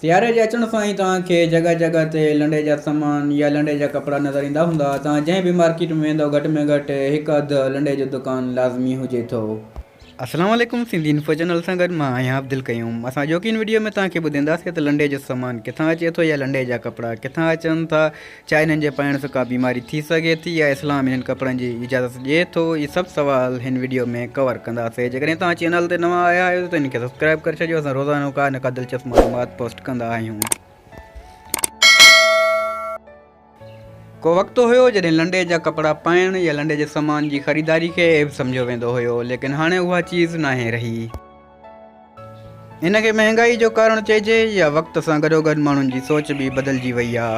سياري جي اچڻ سان ئي توهان کي جڳهه جڳهه تي لنڊي جا سامان يا لنڊي جا ڪپڙا نظر ايندا هوندا. توهان جنهن به مارڪيٽ ۾ ويندؤ گهٽ ۾ گهٽ هڪ اڌ لنڊي جو دڪان لازمي هجي ٿو. السلام عليڪم سنڌي انفو چينل سان گڏ مان آهيان عبدالقيوم اسان اڄوڪي ان وڊيو ۾ توهان کي ٻڌينداسين ته لنڊي جو سامان ڪٿان اچي ٿو يا لنڊي جا ڪپڙا ڪٿان اچن ٿا ڇا انهن جي پائڻ سان ڪا بيماري ٿي سگهي ٿي يا اسلام انهن ڪپڙن جي اجازت ڏئي ٿو اهي سڀ سوال هن وڊيو ۾ ڪور ڪنداسين جيڪڏهن توهان چينل تي نوان آيا آهيو ته هن کي سبسڪرائب ڪري ڇڏيو اسان روزانو ڪا نه ڪا دلچسپ معلومات پوسٽ ڪندا آهيون. ڪو وقت هيو جڏهن لنڊي جا ڪپڙا پائڻ يا لنڊي جي سامان جي خريداري کي عيب سمجهيو ويندو هيو ليڪن هاڻي اها چيز ناهي رهي. ان کي مهانگائي جو ڪارڻ چئجي يا وقت سان گڏوگڏ ماڻهن جي سوچ به بدلجي وئي آ.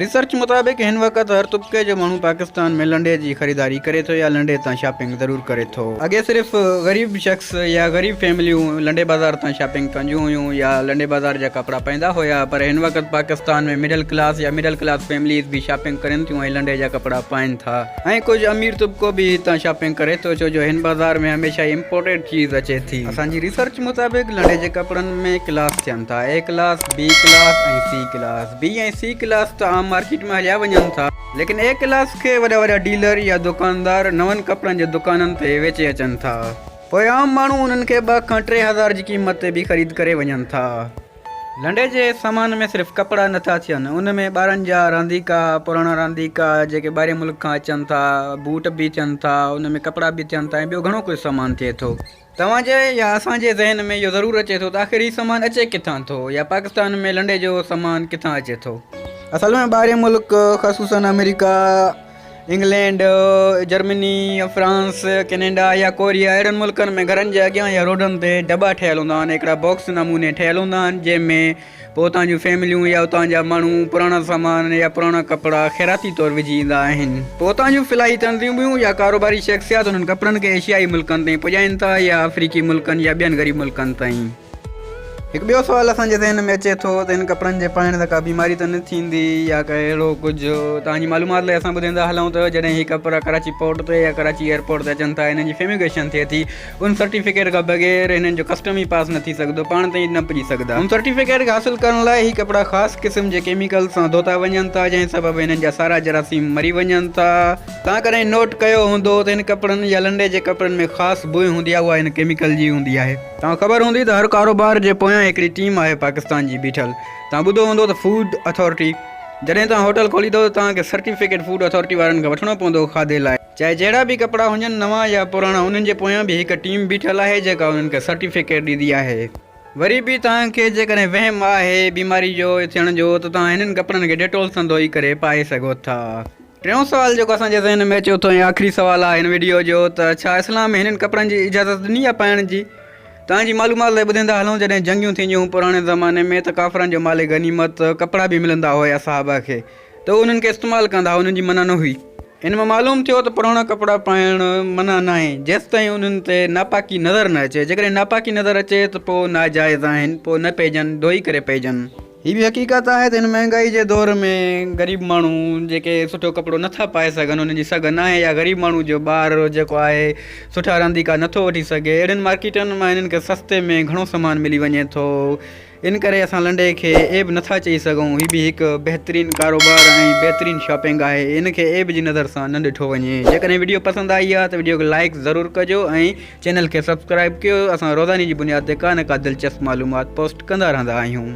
ريسرچ مطابق هن وقت هر طبقي جو ماڻهو پاڪستان ۾ لنڊي جي خريداري ڪري ٿو يا لنڊي تان شاپنگ ضرور ڪري ٿو. اڳي صرف غريب شخص يا غريب فيمليون لنڊي بازار تان شاپنگ ڪنديون هيون يا لنڊي بازار جا ڪپڙا پائيندا هيا پر هن وقت پاڪستان ۾ مڊل ڪلاس يا مڊل ڪلاس فيمليز به شاپنگ ڪرين ٿيون ۽ لنڊي جا ڪپڙا پائين ٿا. ۽ ڪجهه امير طبقو به هتان شاپنگ ڪري ٿو ڇو جو هن بازار ۾ هميشه ئي امپورٽيڊ چيز اچي ٿي. اسان جي ريسرچ مطابق لنڊي جي ڪپڙن ۾ ڪلاس ٿين ٿا، A class, B class ۽ C class. B ۽ C class ته عام مارڪيٽ ۾ هليا وڃن ٿا. ليڪن اي ڪلاس کي وڏا وڏا ڊيلر يا دوڪاندار نون ڪپڙن جي دوڪانن تي ويچي اچن ٿا. پوء عام ماڻهو انهن کي ٻه کان ٽي هزار جي قيمت تي به خريد ڪري وڃن ٿا. لنڊي جي سامان ۾ صرف ڪپڙا نه ٿا ٿين، ان ۾ ٻارن جا رانديڪا، پراڻا رانديڪا جيڪي ٻاهرين ملڪ کان اچن ٿا، بوٽ به ٿين ٿا، ان ۾ ڪپڙا به ٿين ٿا ۽ ٻيو گهڻو ڪجهه سامان ٿئي ٿو. توهان جي يا اسان جي ذهن ۾ اهو ضرور اچي ٿو ته آخر هي سامان اچي ڪٿان ٿو يا پاڪستان ۾ لنڊي جو سامان ڪٿان اچي ٿو؟ اصل ۾ ٻاهرين ملڪ خصوصاً America, England, Germany, France, Canada يا ڪوريا اهڙن ملڪن ۾ گهرن جي اڳيان يا روڊن تي دٻا ٺهيل هوندا آهن هڪڙا باڪس نموني ٺهيل هوندا آهن جنهن ۾ پوء اتان جون فيمليون يا اتان جا ماڻهو پراڻا سامان يا پراڻا ڪپڙا خيراتي طور وجهي ايندا آهن پوء اتان جون فلاحي تنظيمون يا ڪاروباري شخصيات انهن ڪپڙن کي ايشيائي ملڪن تائين پڄائين ٿا يا آفريڪي ملڪن يا ٻين غريب ملڪن تائين. هڪ ٻيو سوال اسان جي ذهن ۾ اچي ٿو ته هن ڪپڙن جي پائڻ سان ڪا بيماري ته نه ٿيندي يا ڪا اهڙو ڪجهه؟ توهان جي معلومات لاء اسان ٻڌائيندا هلون ته جڏهن هي ڪپڙا ڪراچي پورٽ تي يا ڪراچي ايئرپورٽ تي اچن ٿا هنن جي فيميگيشن ٿئي ٿي ان سرٽيفڪيٽ کان بغير هنن جو ڪسٽم ئي پاس نه ٿي سگهندو پاڻ تائين نه پڄي سگهندا ان سرٽيفڪيٽ کي حاصل ڪرڻ لاء هي ڪپڙا خاص قسم جي ڪيميڪلز سان ڌوتا وڃن ٿا جنهن سبب هنن جا سارا جراثيم مري وڃن ٿا توهان ڪڏهن نوٽ ڪيو هوندو ته هن ڪپڙن يا لنڊي جي ڪپڙن ۾ خاص بوء هوندي آهي اها هن ڪيميڪل جي هوندي آهي. توهان کي خبر هوندي ته هر ڪاروبار جي پويان هڪڙي ٽيم آهي پاڪستان جي بيٺل توهان ٻڌو هوندو ته فوڊ اٿارٽي جڏهن توهان هوٽل کوليندو ته توهان کي سرٽيفڪيٽ فوڊ اٿارٽي وارن کان وٺڻو پوندو کاڌي لاء چاهي جهڙا به ڪپڙا هجن نوان يا پراڻا انهن جي پويان به هڪ ٽيم بيٺل آهي جيڪا انهن کي سرٽيفڪيٽ ڏيندي آهي. وري به توهان کي جيڪڏهن وهم آهي بيماري جو ٿيڻ جو ته توهان هنن ڪپڙن کي ڊيٽول سان ڌوئي ڪري پائي سگهو ٿا. ٽيون سوال جيڪو اسان جي ذهن ۾ اچي اٿو ۽ آخري سوال آهي هن وڊيو جو ته ڇا اسلام ۾ هنن ڪپڙن جي اجازت ڏني آهي پائڻ جي؟ توهان جي معلومات لاء ٻڌيندا هلون جڏهن جنگيون ٿينديون هيون پراڻي زماني ۾ ته ڪافرن جو مال غنيمت ڪپڙا به ملندا هيا صحابه کي ته هو انهن کي استعمال ڪندا هئا انهن جي منع نه هئي. ان مان معلوم ٿيو ته پراڻا ڪپڙا پائڻ منع ناهي جيستائين انهن تي ناپاڪي نظر نه اچي جيڪڏهن ناپاڪي نظر اچي ته پوء ناجائز آهن پوء نه پئجن ڌوئي ڪري پئجن. هي به حقيقت آهي ته هن مهانگائي جي دور ۾ غريب ماڻهو جيڪي سٺو ڪپڙو نٿا پائي سگهن انهن جي سگهه ناهي يا غريب ماڻهو جو ٻار جيڪو آهي سٺا رانديڪا نٿو وٺي سگهي اهڙين مارڪيٽن مان هنن کي سستي ۾ گهڻو سامان ملي وڃي ٿو ان ڪري اسان لنڊي کي عيب نٿا چئي سگهون هي به هڪ بهترين ڪاروبار ۽ بهترين شاپنگ آهي ان کي عيب جي نظر سان نه ڏٺو وڃي جيڪڏهن وڊيو پسند آئي آهي ته وڊيو کي لائڪ ضرور ڪجو ۽ چينل کي سبسڪرائب ڪيو اسان روزاني جي بنياد تي ڪا نه ڪا دلچسپ معلومات پوسٽ ڪندا رهندا آهيون.